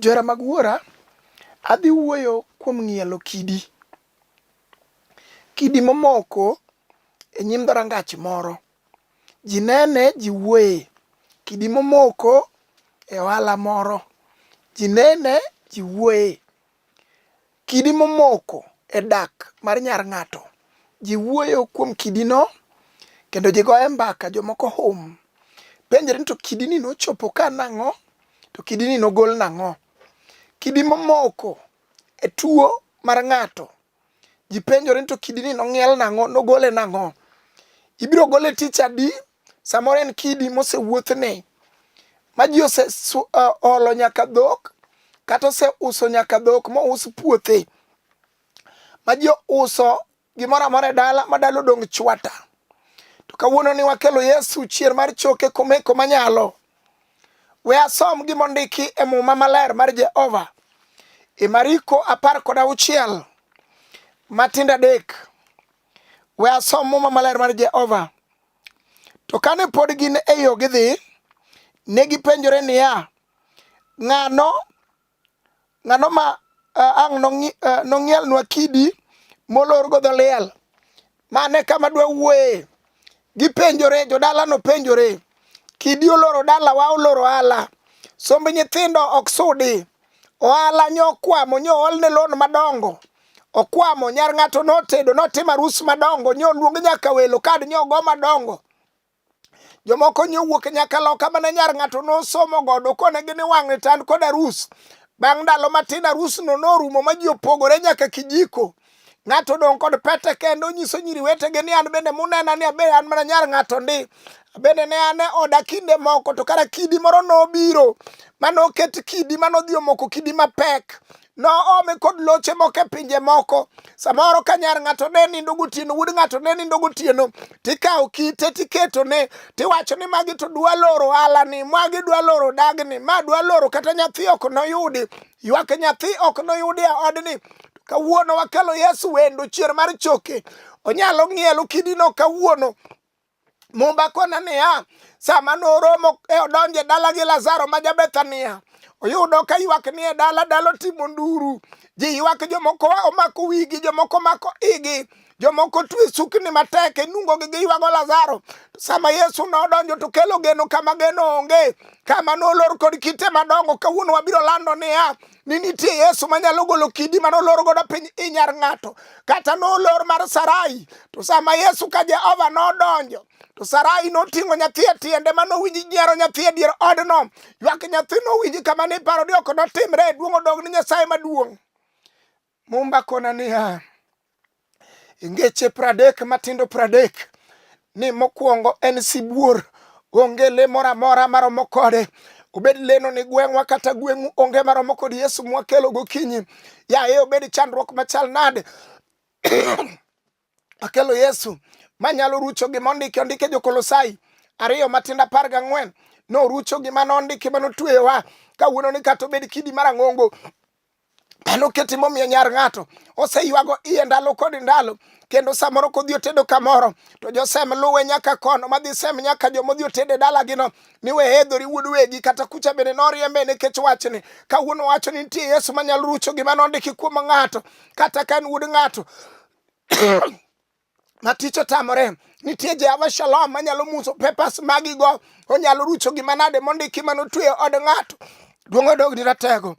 Johera mag Wuora, adhi wuoyo kuom ng'ielo kidi. Kidi momoko e nyim dhorangach moro. Ji nene, ji wuoye. Kidi momoko e ohala moro. Ji nene, ji wuoye. Kidi momoko e dak mar nyar ng'ato. Ji wuoyo kuom kidino kendo ji goye mbaka, jomoko hum. Penjre ni to kidini nochopo ka nang'o? To kidini nogol nang'o? Kidi momoko e tuo mar ng'ato. Ji penjore ni to kidini nong'iel nang'o? Nogole nang'o? Ibiro gole tich adi? Samoro en kidi mosewuothne ma ji oseolo e, nyaka dhok kata oseuso nyaka dhok mous puothe ma ji ouso gimoro amora e dala ma dala odong' chwata. To kawuono ni wakelo Yesu chier mar choke komeko manyalo. We asom gima ondiki e muma maler mar Jehova e Mariko apar kod auchiel matindo adek. We asom muma maler mar Jehova. To kane pod gin e yo gidhi, ne gipenjore niya, ng'ano ng'ano ma uh, ang' nong'ielnwa uh, kidi molorgo dho liel? Mane kama dwawuoye. Gipenjore, jodalano penjore. Kidi oloro dalawa, oloro ala. Somb nyithindo ok sudi. Ohala nyo okwamo, nyo oolne loan madongo. Okwamo, nyar ng'ato notedo, notimo arus madongo, nyo oluong nyaka welo, kad nyo ogo madongo. Jomoko nyo wuok nyaka loka mana nyar ng'ato nosomo godo kone gini wang'e tan kod arus. Bang' ndalo matin arusno norumo ma ji opogore nyaka kijiko. Ng'ato dong' kod pete kendo onyiso nyiri wetege ni an bende munena ni abe an mana nyar ng'ato ndi. Bende ne an e oda kinde moko to kara kidi moro nobiro mane oket kidi mane odhi omoko kidi mapek noome kod loche moko e pinje moko samoro ka nyar ng'ato ne nindo gotieno wuod ng'ato ne nindo gotieno tikawo kite tiketone tiwacho ni magi to dwa loro alani magi dwa loro dagni ma dwa loro kata nyathi ok noyudi ywak nyathi ok noyudi e odni kawuono wakelo yesu wendo chier mar choke onyalo ng'ielo kidino kawuono mumba kona niya sama noromo e odonje dala gi lazaro ma jabethania oyudo ka ywak ni e dala dala otimo nduru ji ywak jomoko omako wigi jomoko omako igi jomoko twe sukni matek inungo gi giywago lazaro sama yesu nodonjo to kelo geno kama geno onge kama nolor kod kite madongo kawuono wabiro lando niya ni nitie yesu manyalo golo kidi ma nolor godo piny inyar ng'ato kata nolor mar sarai to sama yesu ka jehova nodonjo to Sarai noting'o nyathi e tiende ma nowinji nyiero nyathi e dier odno ywak nyathi nowinji kama niparo ni ok notimre e duong' odog ni Nyasaye maduong' Mumba kona niya, e ngeche pradek matindo pradek ni mokwongo en sibuor, onge le moro amora maromo kode obed leno ni gweng'wa kata gweng'u onge maromo kod Yesu mwakelo gokinyi. Yaye obed chandruok machal nade Akelo Yesu manyalo rucho gima ondiki ondike Jokolosai ariyo matindo apar gang'wen norucho gima nondiki ma notweyowa kawuono ni kata obed kidi mar ang'ongo Pano keti momiyo nyar ng'ato oseywago iye ndalo kod ndalo kendo samoro kodhi otedo kamoro to josem luwe nyaka kono madhi sem nyaka joma odhi otede dalagino ni we hedhori wuod wegi kata kucha bende noriembe nikech wachni kawuono wacho ni nitie yesu manyalo rucho gima nondiki kuom ng'ato kata ka en wuod ng'ato ma tich otamore nitie jehova shalom manyalo muso pepas magigo onyalo rucho gima nade mondiki mano tweyo od ng'ato duong' odogni ratego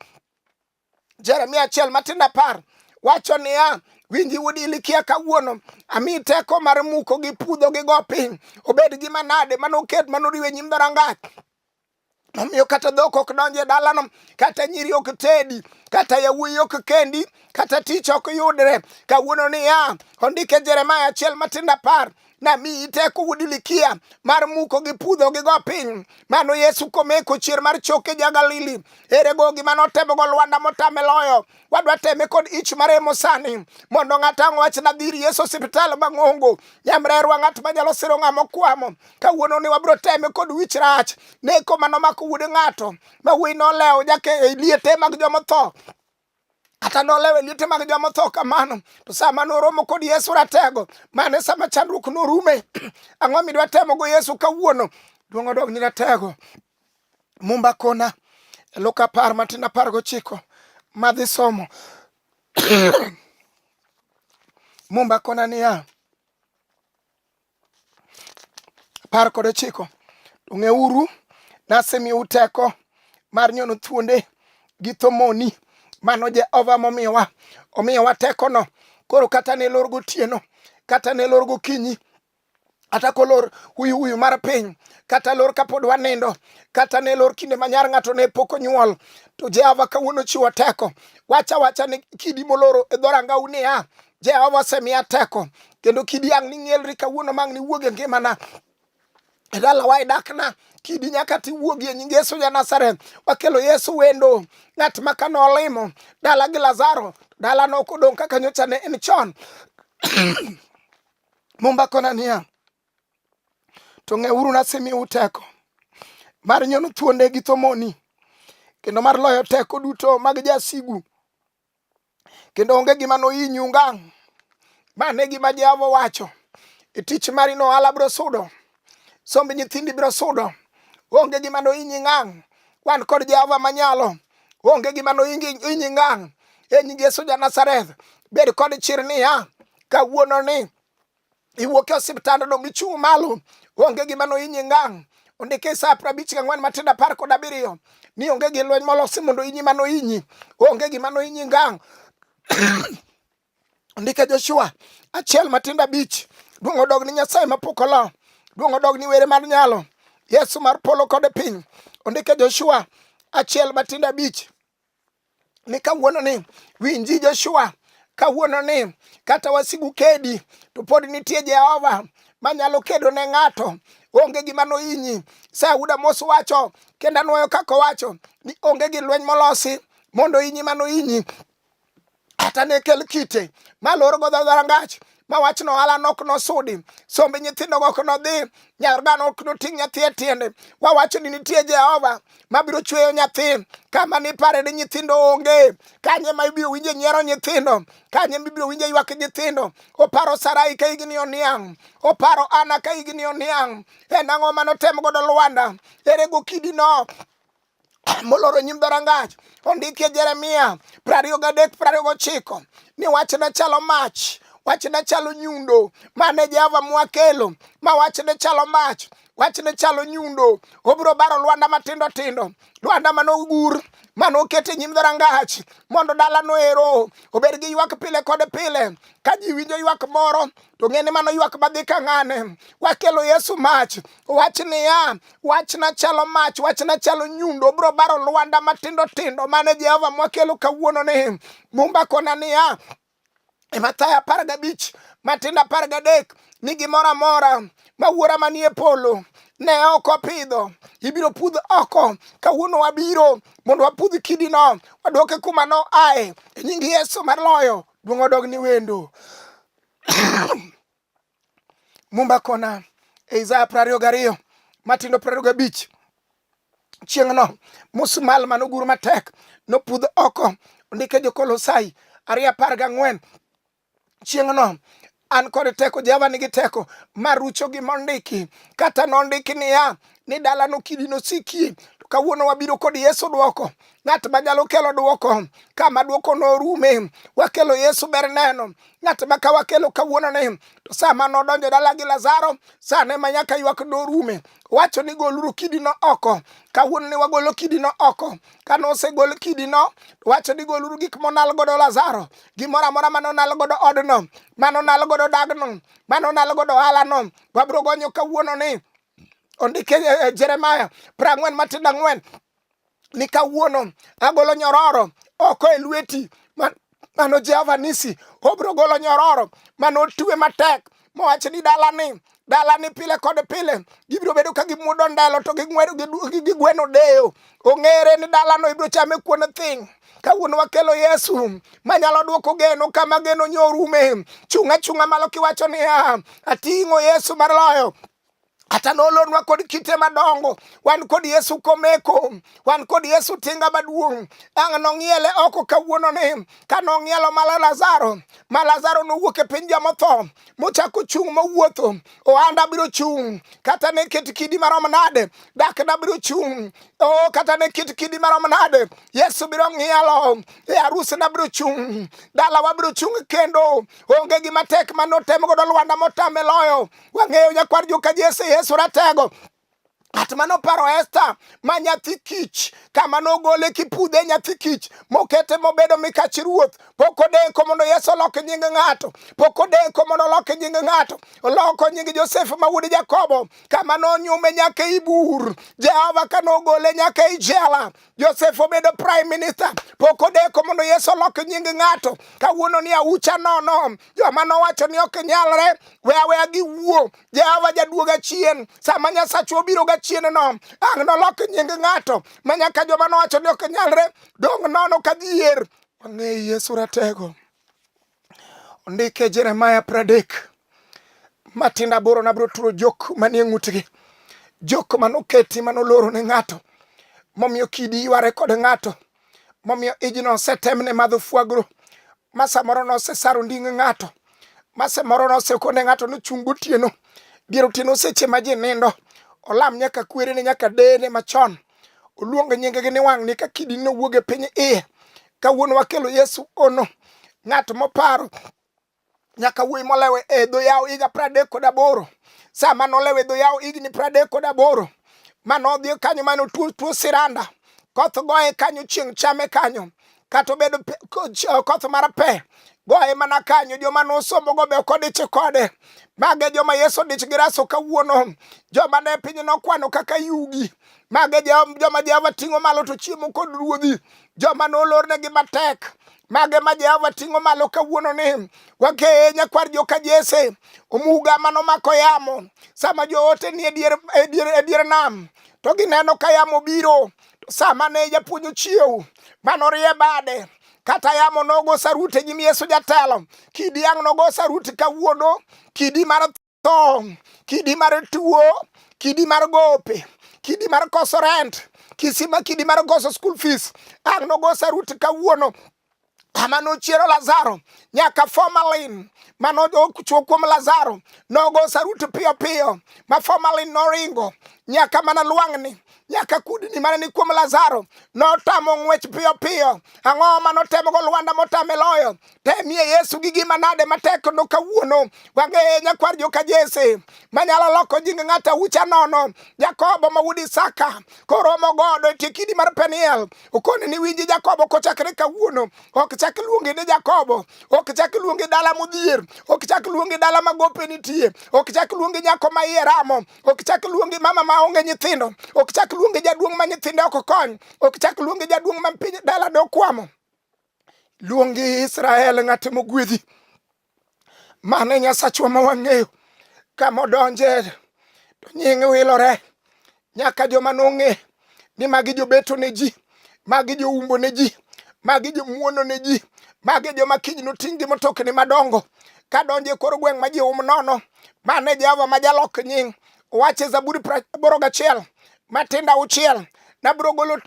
jeremia achiel matin apar wacho niya winji wud ilikia kawuono ami teko mar muko gi pudho gi go piny obed gima nade manoket manoriwe nyim dhorangach Omiyo kata dhok ok donj e dalano, kata nyiri ok tedi, kata yawuoyi ok kendi, kata tich ok yudre. Kawuono niya, ondike Jeremaya achiel matindo apar namiyi teko wuod Ilikia mar muko gi pudho gi go piny. Mano Yesu komeko chier mar choke ja Galili. Erego gima notemogo Lwanda motame loyo. wadwa teme kod ich maremo sani mondo ng'ato ang' wach nadhi ir yesu osiptal mang'ongo nyamrerwa ng'at manyalo siro ng'a mokwamo kawuono ni wabiro teme kod wich rach neko mano mako wuod ng'ato ma wuoyi nolewo jake e liete mag jomotho kata nolewe liete mag joma tho kamano to sama noromo kod yesu ratego mane sama chandruok norume ang'o midwa temogo yesu kawuono duong' odog ni ratego Mumba kona Luka apar matin apar gochiko madhi somo Mumba kona niya apar kod ochiko ong'euru nasemiyou teko mar nyono thuonde gi thomoni mano Jehova momiyowa omiyowa tekono koro kata ne lor gotieno kata ne lor gokinyi kata kolor huyu huyu mar piny kata lor kapod wanindo kata ne lor kinde manyar ng'ato ne pok onyuol to jehova kawuono chiwo teko wacha wacha ni kidi moloro e dhorangau niya jehova osemiya teko kendo kidi ang' ning'elri kawuono mang' niwuog e ngimana e dalawa e dakna kidi nyaka tiwuogi e nying yesu ja nazareth wakelo yesu wendo ng'at ma ka nolimo dala gi lazaro dalano ok odong' kaka nyocha ne en chon Mumba kona niya, to ng'euru nasemiu teko mar nyono thuonde gi thomoni kendo mar loyo teko duto mag jasigu kendo onge gima nohinyu ngang' ma ne gima Jehova wacho e tich mari no alabro sudo somb nyithindi biro sudo onge gima noinyi ngang' wan kod jehova manyalo onge gima noinyi ngang' e nying yesu ja nazareth bed kod chir niya kawuono ni iwuok e osiptand dong' ichung' malo onge gima noinyi ngang' ondike sa prabich ga ng'wen matindo apar kod abiriyo ni onge gi lweny molosi mondo inyi mano inyi onge gima noinyi ngang' ndike Joshua achiel matindo abich duong' odog ni Nyasaye mapok olo duong' odog ni were mar nyalo Yesu mar polo kod piny ondike Joshua achiel matindo abich ni kawuono ni winji Joshua kawuono ni kata wasigu kedi to pod nitie Jehova manyalo kedo ne ng'ato onge gima noinyi Sauda mos wacho kendo anwoyo kaka owacho ni onge gi lweny molosi mondo inyi mano inyi kata ne kel kite ma lor go dharangach ma wach no ala nok no sudi sombe nyithindo go no dhi nyar gano ok no ting nyathi e tiende wa wach ni nitie Jehova ma biro chweyo nyathi kama ni pare ni nyithindo onge kanye ma ibiro winje nyiero nyithindo kanye ma ibiro winje ywak nyithindo oparo Sarai ka igni oniang oparo Ana ka igni oniang en ang'o mano tem godo Lwanda ere go kidi no moloro nyim dhorangach ondikie jeremia prariyo gadek prariyo gochiko ni wachne chalo mach wachne chalo nyundo mane jehova mwakelo ma wachne chalo mach wachne chalo nyundo obiro baro lwanda matindo tindo lwanda manogur mane oket e nyim dhorangach mondo dalano ero obed gi ywak pile kod pile ka ji winjo ywak moro to ng'eni mano ywak madhi ka ng'ane wakelo yesu mach wach niya wachna chalo mach wachna chalo nyundo bro baro lwanda matindo tindo mane jehova mwakelo kawuono ni mumba kona niya e mathayo apar gabich matindo apar gadek ni gimoro amora ma wuora manie polo ne ok opidho ibiro pudh oko kawuono wabiro mondo wapudh kidino waduoke kuma no ae e nying yesu mar loyo duong' odog ni wendo Mumba kona e Isaya prariyo gariyo matindo prariyo gabich chieng'no musmal manogur matek nopudh oko ondike jokolosai ariyo apar gang'wen chieng'no an kod teko jehova nigi teko marucho gi mondiki kata nondiki niya ni dalano kidi nosikie to kawuono wabiro kod yesu dwoko ng'at ma nyalo kelo dwoko kama dwoko norume wakelo yesu ber neno ng'at ma ka wakelo kawuono ni to sama nodonjo dala gi lazaro sane ma nyaka ywak norume wacho ni goluru kidino oko kawuono ni wagolo kidino oko ka nosegol kidino wacho ni goluru gik monal godo lazaro gimoro amora mane onal godo odno mane onal godo dagno mane onal godo ohalano wabiro gonyo kawuono ni ondike eh, eh, Jeremaya pra ang'wen matindo ang'wen ni kawuono agolo nyororo oko e lweti mano Jehova nisi obro golo nyororo mano otwe matek mowach ni dalani dala ni pile kod pile gibiro bedo ka gimudo ndalo to ging'wedo gigweno deyo ong'ere ni dalano ibiro chame kuon thing' kawuono wakelo yesu manyalo dwoko geno kama geno nyorume chunga chunga malo kiwacho niya ating'o yesu mar loyo kata nolonwa kod kite madongo wan kod yesu komeko wan kod yesu tinga maduong' ang' nong'iele oko kawuono ni ka nong'ielo mala lazaro ma lazaro nowuok e piny jomotho mochako chung' mowuotho ohanda biro chung' kata ne ket kidi marom nade dakna biro chung' o kata ne ket kidi marom nade yesu biro ng'ielo e arusna biro chung' dalawa biro chung' kendo onge gima tek ma notem godo lwanda motame loyo Wang'eyo nyakwar joka Jesse Yesu Ratego Ng'at ma noparo Esta ma nyathi kich kama nogole kipudhe nyathi kich mokete mobedo mikach ruoth pok odeko mondo Yesu olok nying ng'ato pok odeko mondo olok nying ng'ato oloko nying Josef ma wuod Jakobo kama nonyume nyaka ibur Jehova ka nogole nyaka ijela Josef obedo prime minister, pok odeko mondo Yesu olok nying ng'ato. Kawuono ni aucha nono, joma nowacho ni ok nyalre, we aweya giwuo. Jehova jaduoga chien, sama Nyasachu obiro ga chien no, ang' nolok nying ng'ato, ma nyaka joma nowacho ni ok nyalre, dong' nono ka dhier. Wang'eyo Yesu ratego. Ondike Jeremaya pradek matindo aboro nabiro turo jok manie ng'utgi jok manoketi manoloro ne ng'ato momiyo kidi yware kod ng'ato momiyo ijno osetemne madho fwagro ma samoro nosesaro nding ng'ato ma samoro nosekone ng'ato nochung' gotieno dier otieno seche ma ji nindo olam nyaka kwerene nyaka dene machon oluongo nyingegi ni wang'ni ka kidi nowuog e piny iye kawuono wakelo yesu ono ng'at moparo nyaka wuoyi molewe e dho yawo higa pradek kod aboro sama nolewe dho yawo higni pradek kod aboro mane odhi kanyo mane otuo tuo siranda koth goye kanyo chieng' chame kanyo kata obedo koth mar pe goye mana kanyo joma nosombogo be okodich kode mage joma yesu odich gi raso kawuono joma ne piny nokwano kaka yugi Mage joma Jehova ting'o malo to chiemo kod ruodhi, joma nolornegi matek mage ma Jehova ting'o malo kawuono ni wakeye nyakwar joka Jese omuga mano mako yamo sama joote ni e dier e nam to gineno ka yamo biro to sama ne japuonj ochiew mano rie bade kata yamo nogo saruti e nyim Yesu jatelo kidi ang' nogo saruti kawuono kidi mar tho kidi mar tuo kidi mar gope kidi mar koso rent kisima kidi mar koso school fees ang nogo sarut kawuono ama nochiero lazaro nyaka formalin mano ochuo kuom lazaro nogo sarut piyo piyo ma formalin noringo nyaka mana lwang'ni nyaka kudni mane ni kuom Lazaro notamo ng'wech piyo piyo. Ang'o ma notemogo Lwanda motame loyo? temie Yesu gi gima nade matek no kawuono wange nyakwar joka Jese manyalo loko jing ng'ata ucha nono Jakobo ma wuod Isaka koromo godo e tie kidi mar Peniel okone ni winji Jakobo kochakre kawuono ok chak luonge ni Jakobo ok chak luonge dala modhier ok chak luonge dala ma gope nitie ok chak luonge nyako ma iye ramo ok chak luonge mama ma onge nyithindo ok chak luonge jaduong' ma nyithinde ok kony ok chak luonge jaduong' ma piny dala dokwamo luongi Israel ng'at mogwedhi mane Nyasachwa ma wang'eyo kamodonje to nying wilore nyaka joma nong'e ni magi jobeto ne ji magi joumbo ne ji magi jomuono ne ji magi joma kiny noting' gi motokni madongo kadonje kor gweng' ma ji um nono mane Jehova ma jalok nying' wache Zaburi aboro gachiel matindo auchiel nabiro golo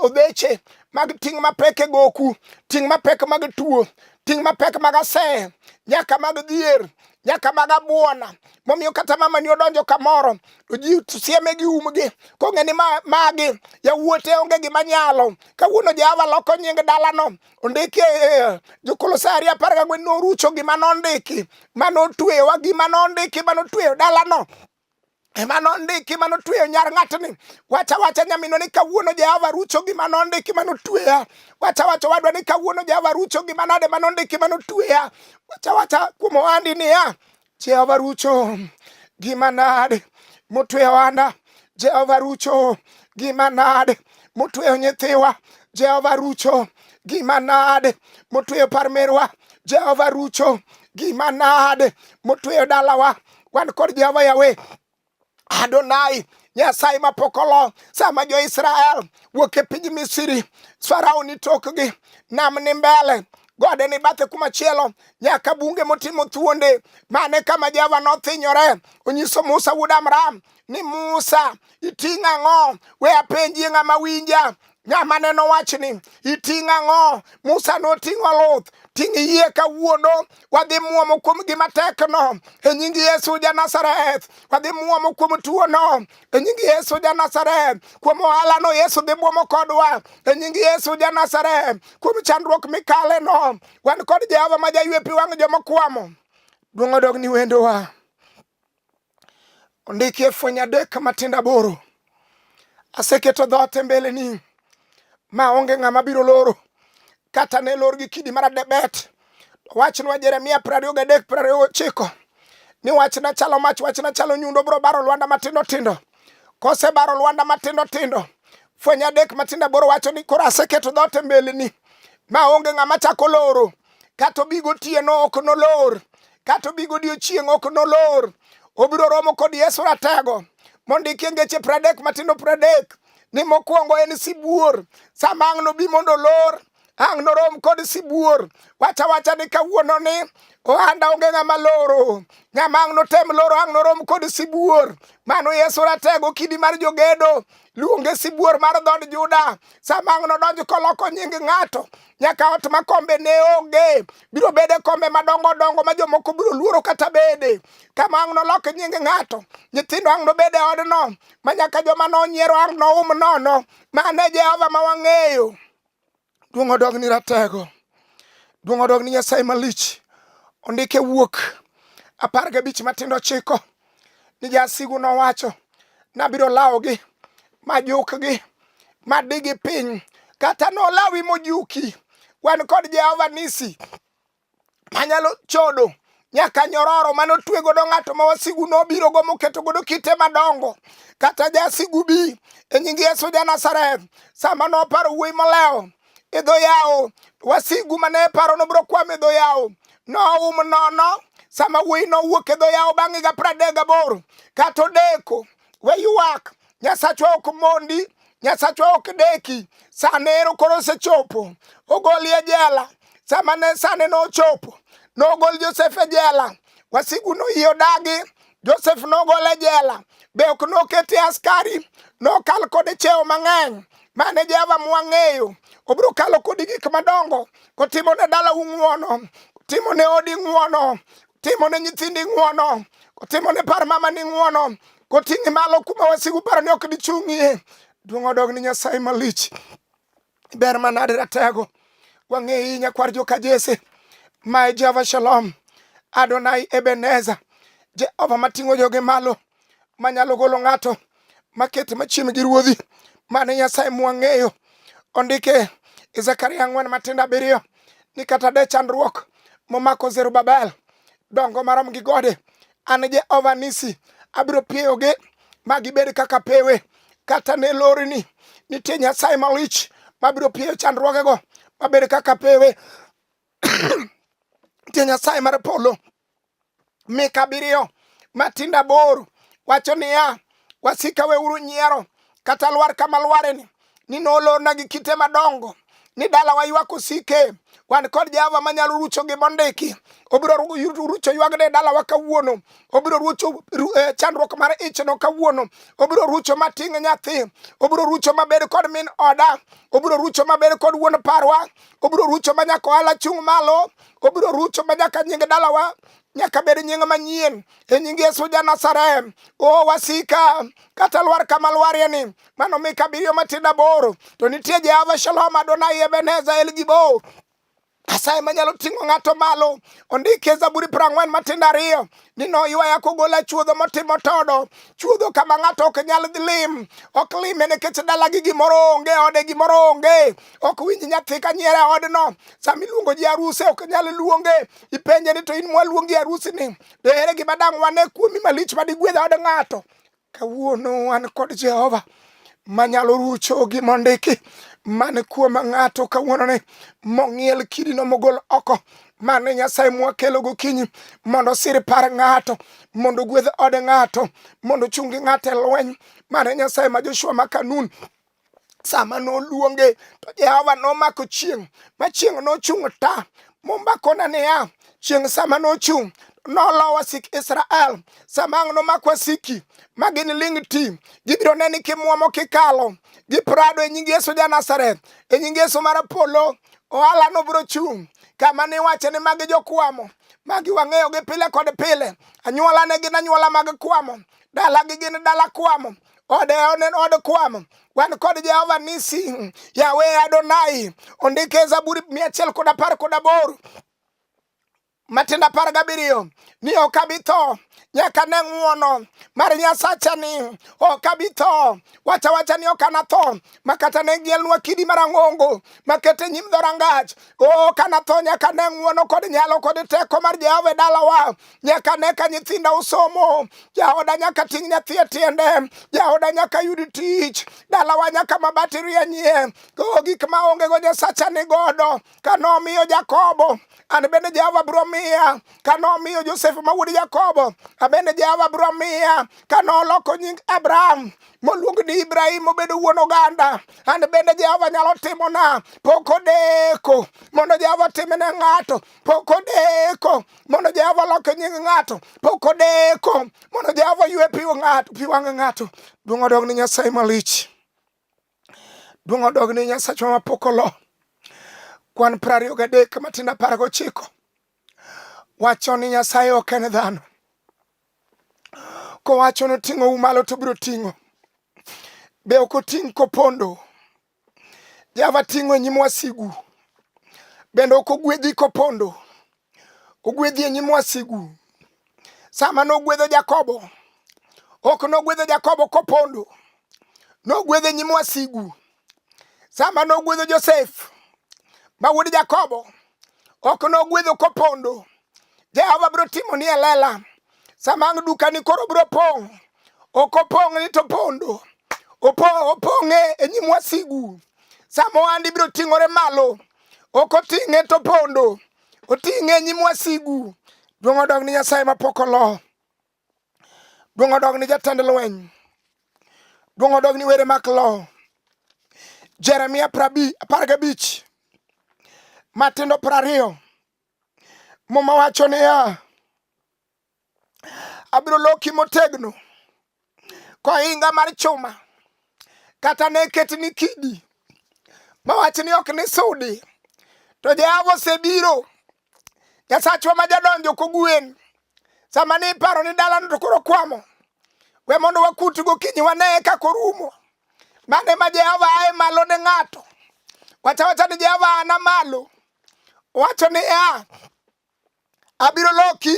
odheche mag ting' mapek e goku, ting' mapek mag tuo, ting' mapek mag aseye, nyaka mag dhier, nyaka mag abuona. Momiyo kata mama ni odonjo kamoro to ji sieme gi umgi kong'e ni magi yawuote onge gima nyalo. Kawuono Jehova loko nying dalano ondiki e, e, e, jokolosai ariyo apar gang'wen norucho gima nondiki ma notweyowa gima nondiki ma notweyo dalano ema nondiki ma notweyo nyar ng'atni wacha wacha nyaminwa ni kawuono jehova rucho gima nondiki ma notweya wacha wacha wadwa ni kawuono jehova rucho gima nade ma nondiki ma notweya wacha wacha kuom ohandi niya Jehova Rucho, gima nade motweyo ana? Jehova Rucho, gima nade motweyo nyithiwa? Jehova Rucho, gima nade motweyo parmerwa? Jehova Rucho, gima nade motweyo dalawa? Wan kod Jehova Yawe Adonai Nyasaye ma pok olo sama jo-Israel wuok e piny Misri, Farao ni tokgi, nam ni mbele gode ni bathe kuma chielo nyaka bunge motimo thuonde mane kama Jehova nothinyore onyiso Musa wuod Amram ni Musa iting' ang'o we apenjie ng'ama winja Ng'ama ne nowach ni iting' ang'o? Musa noting'o luth. Ting' yie kawuono, wadhi muomo kuom gima tekno e nying Yesu ja Nazareth. Wadhi muomo kuom tuono e nying Yesu ja Nazareth. Kuom ohalano Yesu dhi muomo kodwa e nying Yesu ja Nazareth. Kuom chandruok mikaleno, wan kod Jehova ma jaywe pi wang' joma kwamo. Duong' odog ni wendowa. Ondiki e Fweny adek matindo aboro, aseketo dhoot e mbeleni ma onge ng'ama biro loro kata ne lor gi kidi mar adebet. Wachnwa Jeremia piero ariyo gadek piero ariyo gochiko ni wachna chalo mach, wachna chalo nyundo, biro baro lwanda matindo tindo. Kosebaro lwanda matindo tindo, Fweny adek matindo aboro wacho ni koro aseketo dhoot e mbeleni ma onge ng'ama chako loro. kato bi gotieno ok nolor kato bi godiechieng' ok nolor obiro romo kod yesu ratego mondikie ngeche pradek matindo pradek ni mokwongo en sibuor sama ang' nobi mondo olor ang' norom kod sibuor wacha wacha ni kawuono ni ohanda onge ng'ama loro ng'ama ang' notem loro ang' norom kod sibuor mano yesu ratego kidi mar jogedo luonge sibuor mar dhod juda sama ang' nodonj koloko nying ng'ato nyaka ot ma kombe ne onge biro bede kombe madongo dongo ma jomoko biro luoro kata bede kama ang' nolok nying ng'ato nyithindo ang' nobed e odno ma nyaka joma nonyiero ang' noum nono mane jehova ma wang'eyo duong' odog ni ratego duong' odog ni nyasaye malich ondike wuok apar gabich matindo chiko ni jasigu nowacho nabiro lawogi majukgi madigi piny kata nolawi mojuki wan kod jehova nisi manyalo chodo nyaka nyororo mane otwe godo ng'ato ma wasigu nobiro go moketo godo kite madongo kata jasigu bi e nying yesu ja nazareth sama noparo wuoyi molewo e dho yawo wasigu mane e paro nobiro kwamo e dho yawo noum nono sama wuoyi nowuok e dho yawo bang'e ga pradek gaboro kata odeko we ywak nyasachwa ok mondi nyasachwa ok deki sane ero koro osechopo ogoli e jela sama ne sane nochopo nogol josef e jela wasigu noyie odagi Josef nogol e jela, be ok nokete askari, nokal kode cheo mang'eny mane Jehova mwang'eyo. Obiro kalo kodi gik madongo, kotimo ne dala ung'uono, kotimo ne odi ng'uono, kotimo ne nyithindi ng'uono, kotimo ne par mama ni ng'uono, koting'i malo kuma wasigu paro ni ok dichung'ie. Duong' odog ni Nyasaye malich. Ber manade ratego. Wang'eyi nyakwar joka Jesse. Ma e Jehova Shalom. Adonai Ebeneza. Jehova mating'o joge malo. Manyalo golo ng'ato. Makete machiem gi ruodhi. Mane Nyasaye mwang'eyo. Ondike e Zakaria ang'wen matindo abiriyo ni kata de chandruok momako Zerubabel dongo marom gi gode An Jehova Nisi, abiro pieyogi ma gibed kaka pewe. Kata ne lori ni nitie Nyasaye malich mabiro pieyo chandruogego mabed kaka pewe. nitie Nyasaye mar polo. Mika abiriyo matindo aboro wacho niya, Wasika weuru nyiero kata lwar kama lwareni ni nolorna gi kite madongo ni dalawa ywak osike wan kod jehova manyalo rucho gi mondiki obiro rucho ywagno e dalawa kawuono obiro rucho eh, chandruok mar ichno kawuono obiro rucho mating' nyathi obiro rucho mabed kod min oda obiro rucho mabed kod wuon parwa obiro rucho ma nyaka ohala chung' malo obiro rucho ma nyaka nying dalawa nyaka bed nying manyien e nying Yesu ja Nazareth. O wasika kata lwar kama lwarie ni mano mi kabiriyo matindo aboro to nitie Jehova Shalom Adonai Ebenezer El Gibor Nyasaye manyalo ting'o ng'ato malo ondike Zaburi piero ang'wen matindo ariyo ni noywaya kogola chuodho motimo todo chuodho kama ng'ato ok nyal lim ok lime nikech dalagi gimoro onge ode gimoro onge ok winj nyathi ka nyiera odno sama iluongo ji aruse ok nyal luonge ipenje ni to in mwaluongi arusi ni dohere gima dang' wane kuomi malich ma digwedha od ng'ato kawuono wan kod jehova manyalo rucho gi mondiki man kuom ng'ato kawuono ni mong'iel kidino mogol oko mane nyasaye mwakelo gokinyi mondo sir par ng'ato mondo gwedh ode ng'ato mondo chungi ng'ato e lweny mane nyasaye ma joshua ma kanun sama noluonge to Jehova nomako chieng' ma chieng' nochung' ta mombakona niya chieng' sama nochung' nolowa wasik Israel sama ang' nomak wasiki ma gin ling' ti gibiro neni kimwomo kikalo gi prado e nying Yesu ja Nazareth e nying Yesu mar polo ohala no biro chung' kama niwacho ni magi jokwamo magi wang'eyogi pile kod pile anyuola ne gin anyuola mag kwamo dalagi gin dala kwamo odewo ne od kwam wan kod jehova nisi yawe adonai ondike zaburi mia achiel kod apar kod aboro matindo apar gabiriyo ni ok abi tho nyaka ne ng'uono mar nyasacha ni ok abi tho wacha wacha ni ok anatho ma kata ne gielnwa kidi marang'ongo makete nyim dhorangach ok anatho nyaka ne ng'uono kod nyalo kod teko mar jehova e dalawa nyaka ne ka nyithinda osomo, jaoda nyaka ting' nyathi e tiende, jaoda nyaka yud tich, dalawa nyaka mabati rienyie. Go gik ma onge go Nyasacha ni godo. Ka nomiyo Jakobo, an bende Jehova biro miya. Ka nomiyo Josef ma wuod Jakobo, an bende Jehova biro miya. Ka noloko nying Abraham moluong ni Ibrahim obedo wuon oganda, an bende Jehova nyalo timona. Pok odeko mondo Jehova timne ng'ato. pok odeko mondo Jehova olok nying ng'ato, pok odeko mondo Jehova oywe pi ng'ato, pi wang' ng'ato. Duong' odog ni Nyasaye malich. Duong' odog ni Nyasachwa ma pok olo. Kwan piero ariyo gadek matindo apar gochiko wacho ni Nyasaye ok en dhano. Kowacho noting'ou malo to biro ting'o. Be ok oting' kopondo? Java ting'o e nyim wasigu, bende ok ogwedhi kopondo, ogwedhi e nyim wasigu. Sama nogwedho Jakobo, ok nogwedho Jakobo kopondo, nogwedho e nyim wasigu. Sama nogwedho Josef ma wuod Jakobo, ok nogwedho kopondo. Jehova biro timo ni elela sama ang' dukani koro biro pong' ok opong' ni to pondo opong'e e nyim wasigu sama ohandi biro ting'ore malo ok oting'e to pondo oting'e e nyim wasigu duong' odog ni nyasaye mapok olo Duong' odog ni jatend lweny. Duong' odog ni were mak lo. Jeremia apar gabich matindo piero ariyo muma wacho niya abiro loki motegno kohinga mar chuma kata ne ket ni kidi mawach ni ok ni sudi to jehova osebiro Nyasachwa ma jadonjo kogwen sama ni iparo ni dalano to koro kwamo we mondo wakut gokinyi wane kaka orumo mane ma Jehova ae malo ne ng'ato wacha wacha ni Jehova ana malo wacho ni ya abiro loki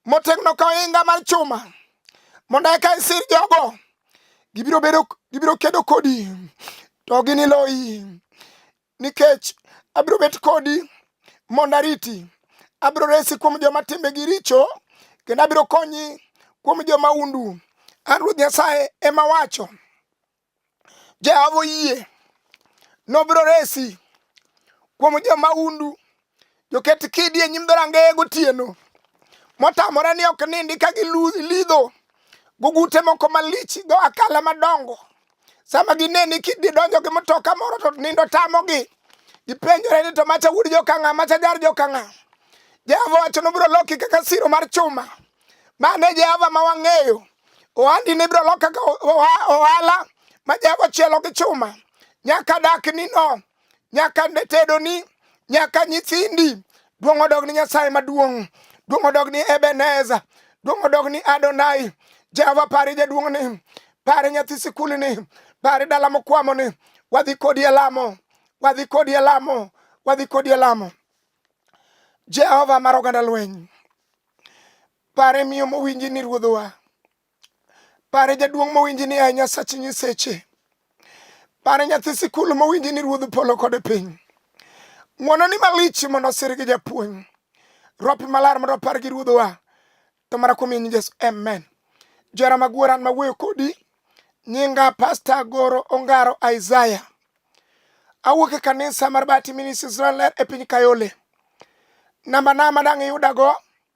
motegno ka ohinga mar chuma mondo eka isir jogo gibiro bedo gibiro kedo kodi to giniloyi Nikech abiro bet kodi mondo ariti, abiro resi kuom joma timbegi richo, kendo abiro konyi kuom joma undu. An Ruoth Nyasaye ema wacho. Jehova oyie nobiro resi kuom joma undu joket kidi e nyim dhorangeye gotieno motamore ni ok nindi ka gilidho gugute moko malich dho akala madongo sama gineni kididonjo gi mtoka moro to nindo tamogi gipenjore ni to macha wuod jokang'a macha jar jokang'a jehova wacho nobiro loki kaka siro mar chuma mane jehova ma wang'eyo ohandi ni biro loki kaka ohala ma jehova chielo gi chuma nyaka dak ni no nyaka ne tedoni nyaka nyithindi duong' odog ni nyasaye maduong' duong' odog ni ebeneza duong' odog ni adonai jehova pari jaduong' ni pare nyathi sikul ni pare dala mokwamo ni wadhi kodi e lamo wadhi kodi e lamo wadhi kodi e lamo jehova mar oganda lweny pare miyo mowinji ni ruodhowa Pare jaduong' mowinji ni a Nyasach Nyiseche. Pare nyathi sikul mowinji ni Ruodh Polo kod piny. Ng'wono ni malich mondo osir gi japuonj. Rwapi malar mondo opar gi Ruodhwa. To mara kuom nying Yesu, amen. Jara magwara ma wuoyo kodi nyinga Pastor Goro Ongaro Isaiah. Awuok e kanisa mar Bati Ministries Israel e piny Kayole. Namba na madang' iyudago